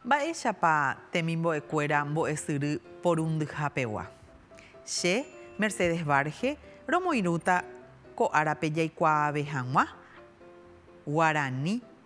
Mba'éichapa temimbo'ekuéra mbo'esyry porundyhapegua? Che, Mercedes Varge, romoirũta ko árape jaikuaave hag̃ua Guarani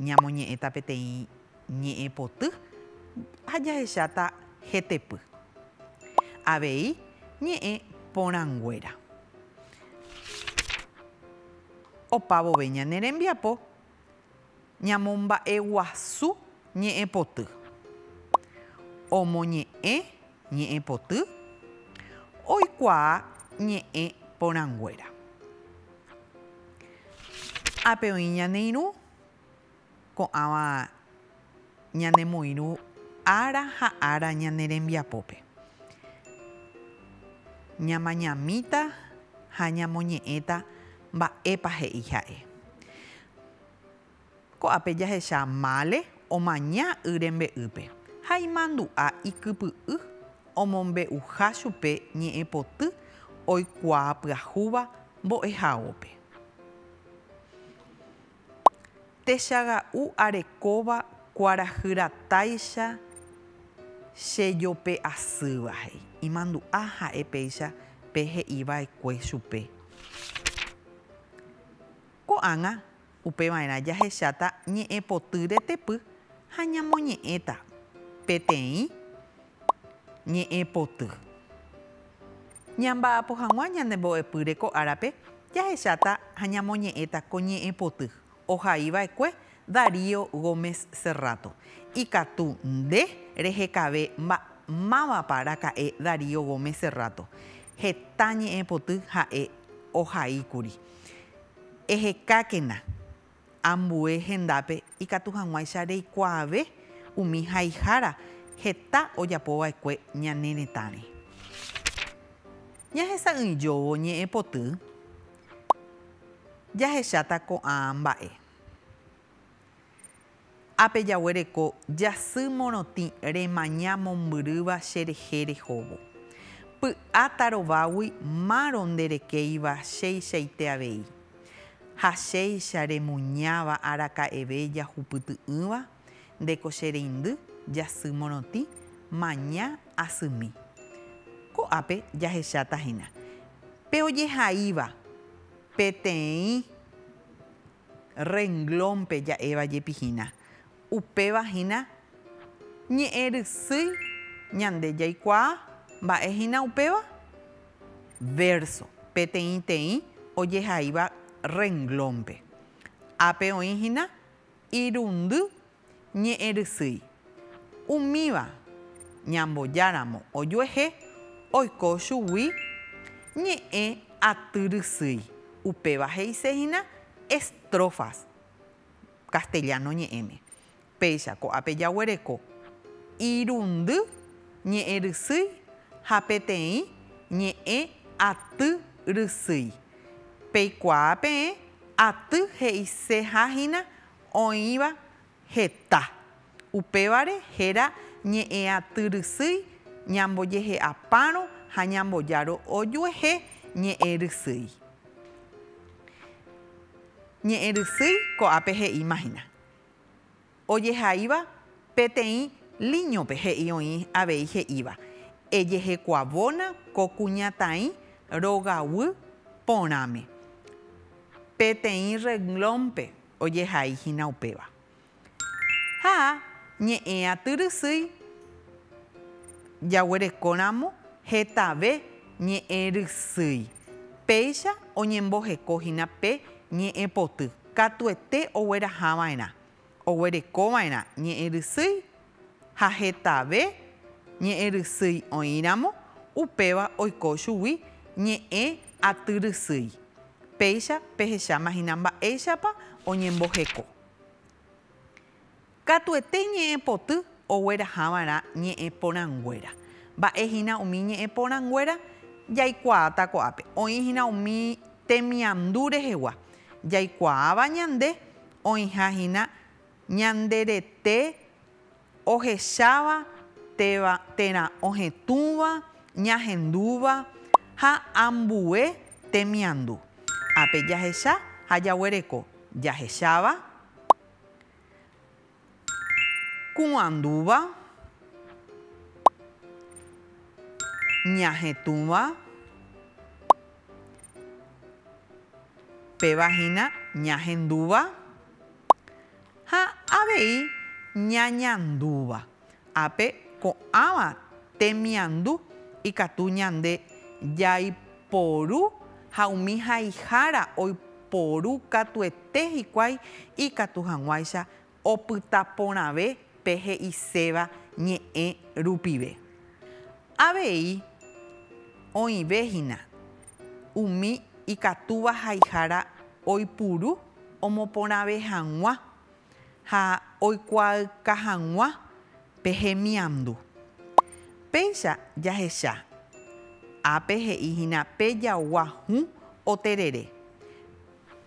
ñamoñe'ẽta peteĩ ñe'ẽ poty ha jahecháta hetepy. Avei ñe'ẽ porãnguéra. Opa vove ñane rembiapo ñamomba'eguasu ñe'ẽ poty. Omoñe'ẽ. Ñe'ẽpoty, Oikuaa ñe'ẽ porãnguéra. Ápe oĩ ñane irũ, ko'ãva ñane moirũ ára ha ára ñane rembiapópe. Ñamañamíta ha ñamoñe'ẽta mba'épa he'i ha'e. Ko'ápe jahecha mále omaña y rembe'ýpe ha imandu'a ikypy'y omombe'uha chupe ñe'ẽpoty oikuaa pyahúva mbo'ehaópe. Techaga'u arekóva kuarahyratáicha chéjope asýva, he'i. Imandu'a ha'e péicha pe he'iva'ekue chupe. Ko'ág̃a Upeva'erã jahecháta ñe'ẽ poty retepy ha ñamoñe'ẽta peteĩ ñe'ẽ poty. Ñamba'apo hag̃ua ñane mbo'epy reko árape jahecháta ha ñamoñe'ẽta ko ñe'ẽ poty ohai va'ekue Darío Gómez Cerrato. Ikatu nde rehekave mávapa raka'e Darío Gómez Cerrato. Heta ñe'ẽ poty ha'e ohai kuri. Ehekákena ambue hendápe ikatu hag̃uáicha reikuaave umi haihára heta ojapo va'ekue ñane retãre. Ñahesa'ỹijóvo ñe'ẽ poty, jahecháta ko'ã mba'e. Ápe jaguereko jasy morotĩ remaña mombyrýva che rehe rehóvo. Py'a tarovágui márõ nde rekéiva chéichaite avei. Ha chéicha remuñáva araka'eve jahupyty'ỹva nde ko che reindy jasy morotĩ maña asymi. Ko'ápe jahecháta hína pe ojehaíva peteĩ Renglónpe ja'éva jepi hína, upéva hína ñe'ẽ rysýi ñande jaikuaa mba'e hína upéva vérso peteĩteĩ ojehaíva renglónpe. Ápe oĩ hína irundy Ñe'ẽ rysýi. Umíva ñambojáramo ojuehe oiko chugui ñe'ẽ aty rysýi. Upéva he'ise hína estrofas castellano ñe'ẽme. Péicha ko'ápe jaguereko irundy ñe'ẽ rysýi ha peteĩ ñe'ẽ aty rysýi. Peikuaa peẽ aty he'iseha hína oĩva heta. Upévare héra ñe'ẽatyrysýi ñambojehe'apárõ ha ñambojárõ ojuehe ñe'ẽrysýi. Ñe'ẽrysýi ko'ápe he'íma hína. Ojehaíva peteĩ líñope he'i oĩ avei he'íva, Ejehekuavóna ko kuñataĩ rogaguy porãme. Peteĩ rreglónpe ojehai hína upéva. Ha ñe'ẽ aty rysýi jaguereko ramo hetave ñe'ẽ rysýi, péicha oñemboheko hína pe ñe'ẽ poty katuete oguerahava'erã, oguerekova'erã ñe'ẽ rysýi, ha hetave ñe'ẽrysýi oĩramo, upéva oiko chugui ñe'ẽ atyrysýi. Péicha pehecháma hína mba'éichapa oñemboheko. Katuete ñe'ẽ poty ogueraha va'erã ñe'ẽ porãnguéra. Mba'e hína umi ñe'ẽ porãnguéra? Jaikuaáta ko'ápe. Oĩ hína umi temiandu rehegua. Jaikuaáva ñande, oĩha hína Ñande rete ohecháva téva térã ohetũva, ñahendúva ha ambue temiandu. Ápe jahecha ha jaguereko jahecháva, kuandúva, ñahetũva, péva hína ñahendúva. Ha avei ñañandúva. Ápe ko'ãva temiandu ikatu ñande jaiporu ha umi haihára oiporu katuete hikuái ikatu hag̃uáicha opyta porãve pe he'iséva ñe'ẽ rupive. Avei oĩve hína umi ikatúva haihára oipuru. omoporãve hag̃ua ha oikuaauka hag̃ua pe hemiandu. Péicha jahecha, ápe he'i hína pe jagua hũ oterere.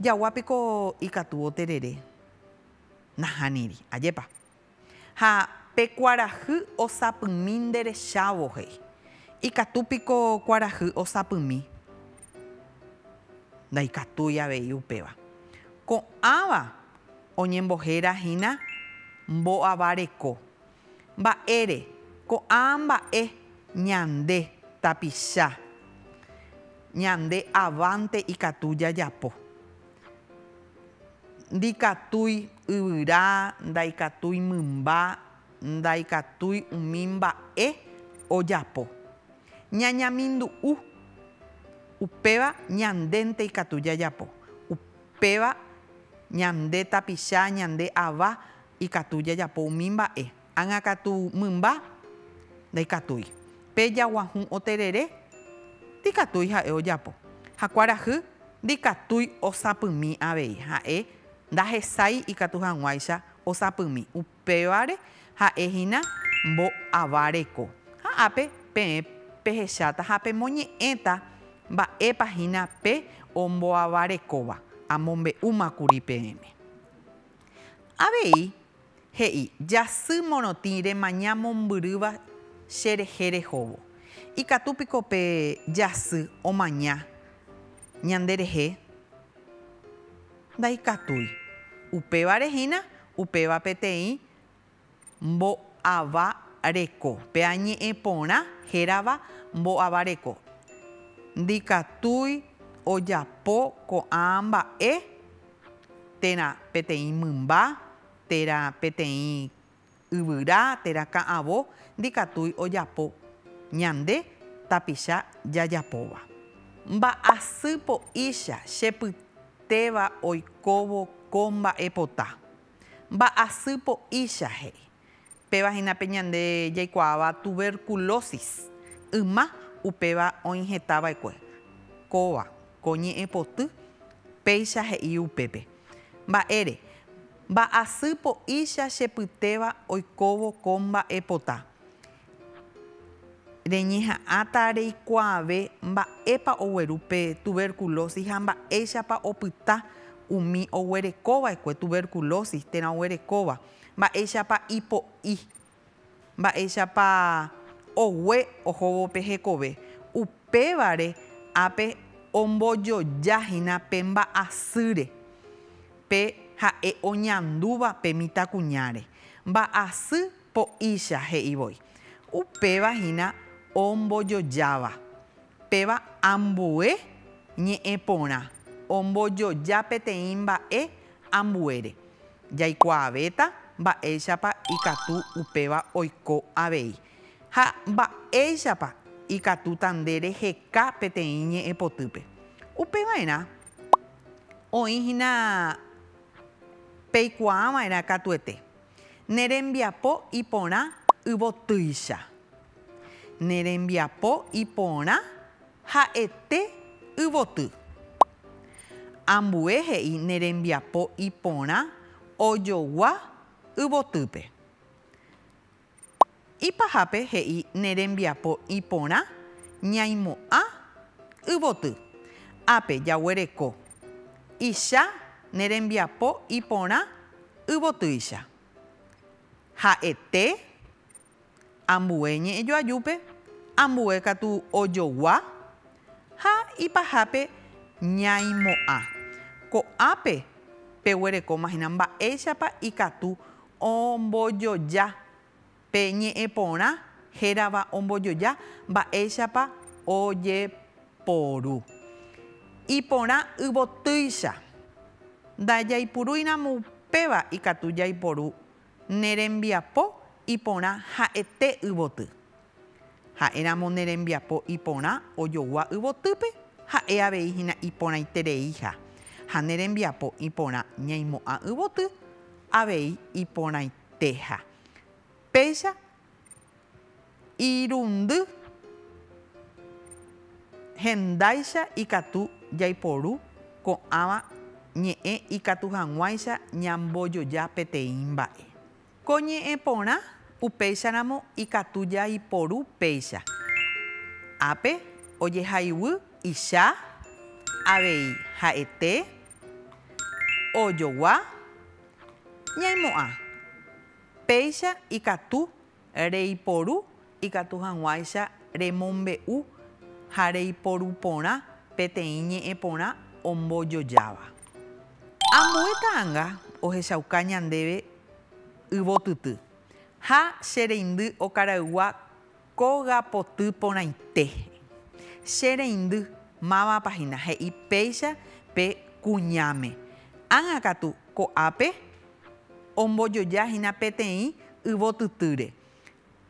Jagua piko ikatu oterere? Nahániri. Ajépa? Ha pe kuarahy osapymi nderechávo, he'i. Ikatu piko kuarahy osapymi? Ndaikatúi avei upéva. Ko'ãva oñembohéra hína mbo'ava reko. Mba'ére? Ko'ã mba'e ñande tapicha ñande avánte ikatu jajapo. Ndikatúi yvyra, ndaikatúi mymba, ndaikatúi umi mba'e ojapo. Ñañamindu'u, upéva ñandénte ikatu jajapo, upéva ñande tapicha, ñande ava ikatu jajapo umi mba'e. Ág̃a katu mymba ndaikatúi. Pe jaguahũ oterere ndikatúi ha'e ojapo. Ha kuarahy ndikatúi osapymi avei. Ha'e ndahesái ikatu hag̃uáicha osapymi. Upévare ha'e hína mbo'ava reko. Ha ápe peẽ pehecháta ha pemoñe'ẽta mba'épa hína pe ombo'ava rekóva. Amombe'úma kuri peẽme. Avei. He'i, Jasy morotĩ remaña mombyrýva che rehe rehóvo. Ikatu piko pe jasy omaña ñande rehe? Ndaikatúi. Upévare hína upéva peteĩ mbo'ava reko, pe añe'ẽ porã hérava mbo'ava reko. Ndikatúi ojapo ko'ã mba'e. Térã peteĩ mymba, térã peteĩ yvyra, térã ka'avo ndikatúi ojapo ñande tapicha jajapóva. Mba'asy po'ícha chepytéva oikóvo ko mba'epota. Mba'asy po'ícha he'i. Péva hína pe ñande jaikuaáva tuberculosis, yma upéva oĩ heta vaekue. Kóva, ko ñe'ẽpoty, péicha he'i upépe. Mba'ére, mba'asy po'ícha chepytéva oikóvo ko mba'epota. Reñeha'ãta reikuaave mba'épa ogueru pe tuberculosis ha mba'éichapa opyta umi oguerekóvaekue tuberculosis térã oguerekóva. mba'éichapa ipo'i, mba'éichapa ogue ohóvo pe hekove, upévare ápe ombojoja hína pe mba'asýre, pe ha'e oñandúva pe mitãkuñáre, mba'asy po'ícha he'i voi, upéva hína ombojojáva. Péva ambue ñe'ẽ porã ombojoja peteĩ mba'e ambuére. Jaikuaavéta mba'éichapa ikatu upéva oiko avei, ha mba'éichapa ikatúta nde reheka peteĩ ñe'ẽpotýpe. Upeva'erã oĩhína peikuaava'erã katuete. Ne rembiapo iporã yvotýicha. Ne rembiapo iporã ha'ete yvoty. Ambue he'i ne rembiapo iporã ojogua yvotýpe. Ipahápe he'i ne rembiapo iporã ñaimo'ã yvoty. Ápe jaguereko, Icha ne rembiapo iporã yvotýicha. Ha'ete ambue ñe'ẽjoajúpe ambue katu ojogua ha ipahápe ñaimo'ã. Ko'ápe peguerekóma hína mba'éichapa ikatu Ombojoja. Pe ñe'ẽ porã hérava ombojoja mba'éichapa ojeporu. Iporã yvotýicha. Ndajaipurúiramo upéva ikatu jaiporu ne rembiapo iporã ha'ete yvoty. Ha'éramo ne rembiapo iporã ojogua yvotýpe ha'e avei hína iporãitereiha, ha ne rembiapo iporã ñaimo'ã yvoty avei iporãitéha. Péicha irundy hendáicha ikatu jaiporu ko'ãva ñe'ẽ ikatu hag̃uáicha ñambojoja peteĩ mba'e. Ko ñe'ẽ porã upéicharamo ikatu jaiporu péicha. Ápe ojehaiguy icha, avei, ha'ete, ojogua, ñaimo'ã. Péicha ikatu reiporu Ikatu hag̃uáicha remombe'u ha reiporu porã peteĩ ñe'ẽ porã ombojojáva. Ambue ta'anga ohechauka ñandéve yvotyty, ha che reindy okaraygua kóga poty porãitéhe. Che reindy, mávapa hína, he'i péicha pe kuñáme, Ág̃a katu ko'ápe ombojoja hína peteĩ yvotytýre.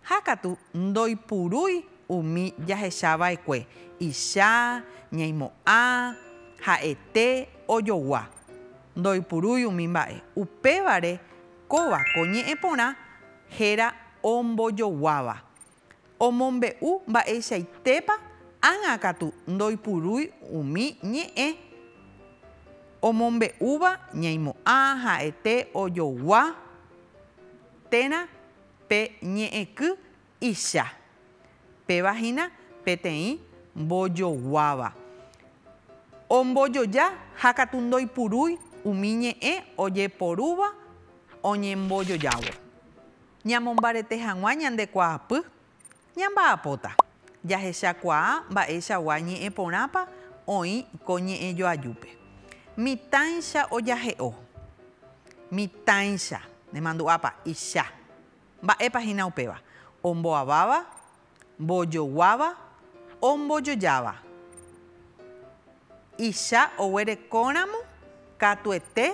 Ha katu ndoipurúi umi jahecha vaekue, icha, ñaimo'ã, ha'ete, ojogua. Ndoipurúi umi mba'e. Upévare kóva ko ñe'ẽ porã héra ombojoguáva. Omombe'u mba'eichaitépa ág̃a katu ndoipurúi umi ñe'ẽ omombe'úva, ñaimo'ã, ha'ete, ojogua, térã. pe ñe'ẽky icha. Péva hína peteĩ mbojoguáva. Ombojoja ha katu ndoipurúi umi ñe'ẽ ojeporúva oñembojojávo. Ñamombarete hag̃ua ñande kuaapy Ñamba'apóta jahechakuaa mba'eichagua ñe'ẽ porãpa oĩ ko ñe'ẽ joajúpe. Mitãicha ojahe'o. Mitãicha. Nemandu'ápa, icha. Mba'épa hína upéva? Omboaváva, mbojoguáva, ombojojáva. Icha oguerekóramo katuete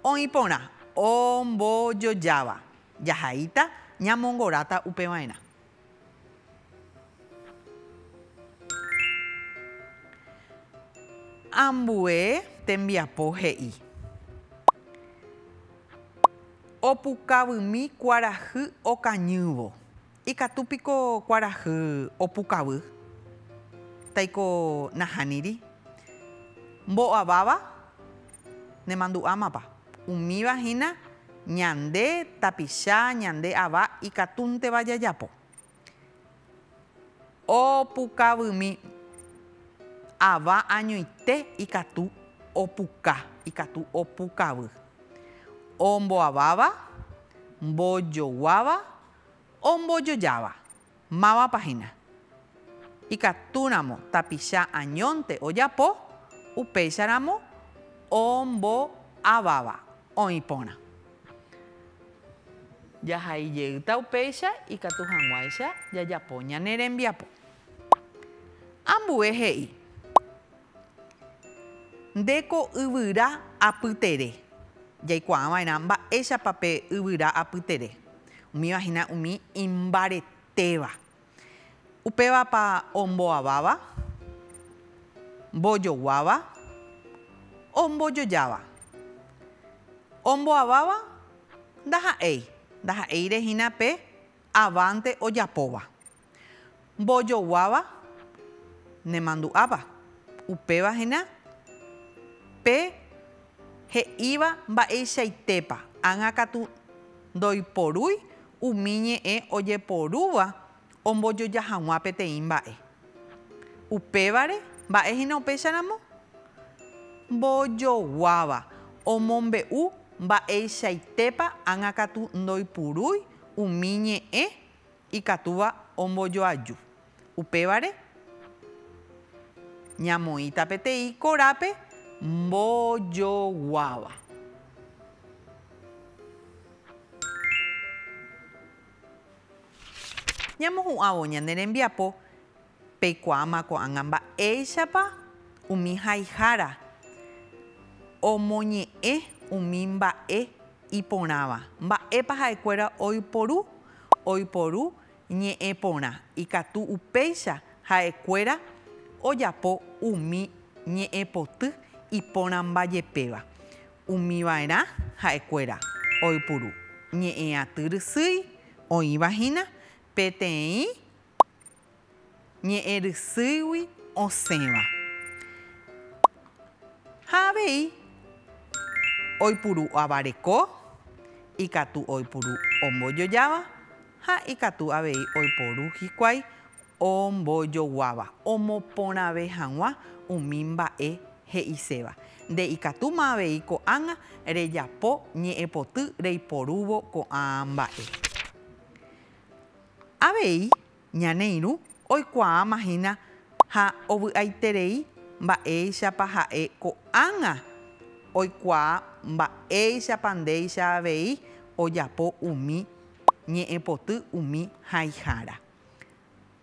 oĩ porã, ombojojáva. Jahaíta ñamongoráta upeva'erã. Ambue tembiapo he'i. Opukavymi kuarahy okañývo. Ikatu piko kuarahy opukavy, taiko nahániri. Mbo'aváva nemandu'ámapa, umíva hína ñande tapicha, ñande ava ikatúnteva jajapo. Opukavymi, ava añoite ikatu opuka, ikatu opukavy. Omboaváva, mbojoguáva, Ombojojáva. Mávapa hína. Ikatúramo tapicha añónte ojapo, upéicharamo ombo'aváva oĩ porã. Jahai jeýta upéicha ikatu hag̃uáicha jajapo ñane rembiapo. Ambue he'i, Nde ko yvyra apytere. Jaikuaa va'erã mba'éichapa pe yvyra apytere. Umíva hína umi imbaretéva. Upévapa omboaváva, mbojoguáva, ombojojáva. Omboaváva ndaha'éi, ndaha'éire hína pe avánte ojapóva. Mbojoguáva nemandu'áva, upéva hína pe he'íva mba'eichaitépa, ág̃a katu ndoiporúi umi ñe'ẽ ojeporúva ombojoja hag̃ua peteĩ mba'e. Upévare, mba'e hína upéicharamo? Mbojoguáva omombe'u mba'eichaitépa ág̃a katu ndoipurúi umi ñe'ẽ Ikatúva ombojoaju. Upévare ñamoĩta peteĩ korápe mbojoguáva. Ñamohu'ãvo ñane rembiapo. Peikuaáma ko'ág̃a mba'éichapa umi haihára omoñe'ẽ umi mba'e iporãva. Mba'épa ha'ekuéra oiporu? Oiporu ñe'ẽ porã. Ikatu upéicha ha'ekuéra ojapo umi ñe'ẽpoty iporãmbajepéva. Umiva'erã ha'ekuéra oipuru ñe'ẽ aty rysýi oĩva hína peteĩ ñe'ẽ rysýgui osẽva. Ha avei oipuru avareko, ikatu oipuru ombojojáva ha ikatu avei oiporu hikuái ombojoguáva omoporãve hag̃ua umi mba'e he'iséva. Nde ikatúma avei ko'ág̃a rejapo ñe'ẽpoty reiporúvo ko'ã mba'e. Avei ñane irũ oikuaáma hína ha ovy'aiterei mba'éichapa ha'e ko'ág̃a oikuaa mba'éichapa ndéicha avei ojapo umi ñe'ẽpoty umi haihára.